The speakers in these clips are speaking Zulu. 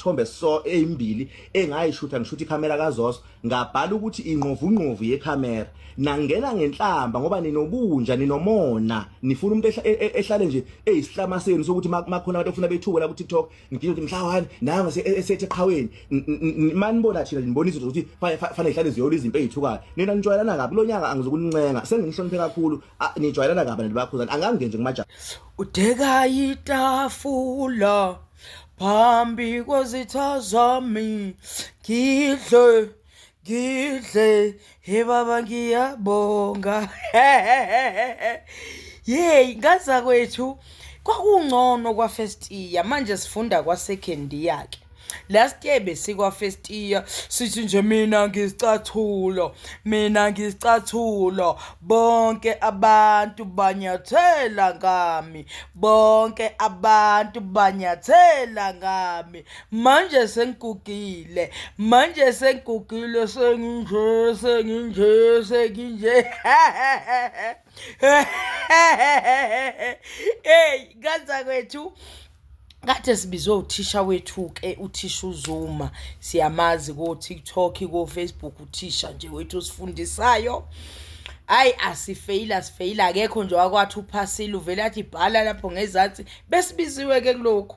isithombe so eyimbili engayishutha ngishutha ikhamera kaZoso ngabhala ukuthi ingqovungqovu yekhamera nangena ngenhlamba ngoba ninobunja ninomona nifuna umuntu e, e, ehlale nje eyisihlama senu sokuthi makhona abantu ofuna bethuke la ku TikTok ngidinga ukuthi mhla wani nanga esethe qhaweni mani bona thina nibona izinto zokuthi fanele ihlale ziyola izinto ezithukayo nina nijwayelana kabi lo nyaka angizokunincenga senginihloniphe kakhulu nijwayelana kabi nabantu bakhuzana angange nje kumajaha udeka itafula phambi kwezitha zami ngidle Ngidle he baba ngiyabonga. Yey ngaza kwethu kwakungcono kwa first year manje sifunda kwa second year ke. Last year besikwa first year sithi nje mina ngisicathulo mina ngisicathulo bonke abantu banyathela ngami bonke abantu banyathela ngami manje sengigugile manje sengigugile senginje senginje senginje hey kanza kwethu kade sibizwe uthisha wethu ke uthisha uZuma siyamazi ko TikTok ko Facebook uthisha nje wethu osifundisayo hayi asifeyile asifeyile akekho nje wakwathi uphasile uvele athi bhala lapho ngezansi besibiziwe ke kulokhu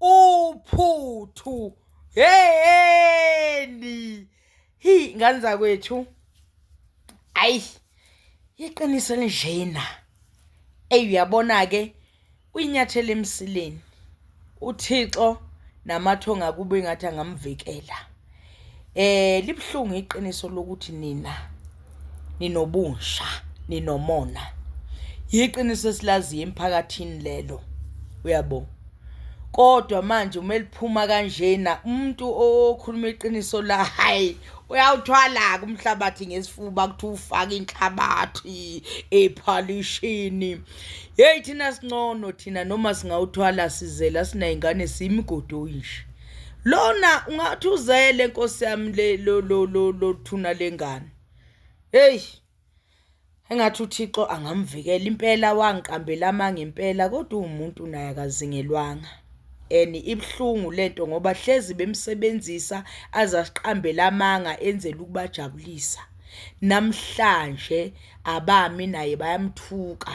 uphuthu heyeni hi ngane zakwethu ayi iqiniso elinjena eyi uyabona-ke uyinyathela emsileni uthixo namathonga kube ngathi angamvikela Eh libuhlungu iqiniso lokuthi nina ninobusha ninomona. Yiqiniso esilaziyo emphakathini lelo. Uyabo? kodwa manje uma eliphuma kanjena umuntu okhuluma iqiniso la hayi uyawuthwala-ke umhlabathi ngesifuba kuthi ufake inhlabathi ephalishini yeyi thina singcono thina noma singawuthwala sizela siney'ngane siyimigodoyi nje lona ungathi uzele nkosi yami le lo lo lo lothuna lengane hey engathi uThixo angamvikela impela wangiqambela amanga impela kodwa umuntu naye akazingelwanga and ibhlungu lento ngoba hlezi bemsebenzisa azasiqambela amanga enzela ukubajabulisa namhlanje abami naye bayamthuka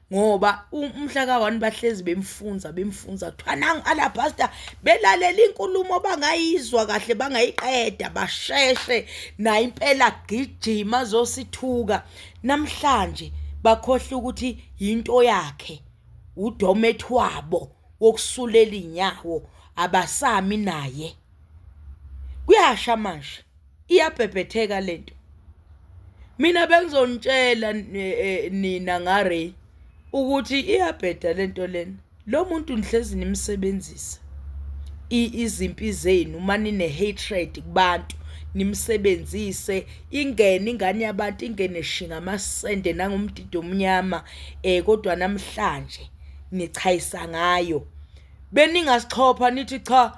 ngoba umhla ka-one bahlezi bemfunza bemfunza kuthiwa nangu alabhasta belalela inkulumo bangayizwa kahle bangayiqeda basheshe naye impela gijima azosithuka namhlanje bakhohle ukuthi yinto yakhe udomet wabo wokusulela inyawo abasami naye kuyasha manje iyabhebhetheka lento mina bengizonitshela eh, eh, nina ngaRay ukuthi iyabheda lento lena lo muntu nihlezi nimsebenzisa izimpi zenu manine hatred kubantu nimsebenzise ingene ingane yabantu ingene shinga amasende nangomdido omnyama eh kodwa namhlanje nichayisa ngayo beningasixhopha nithi cha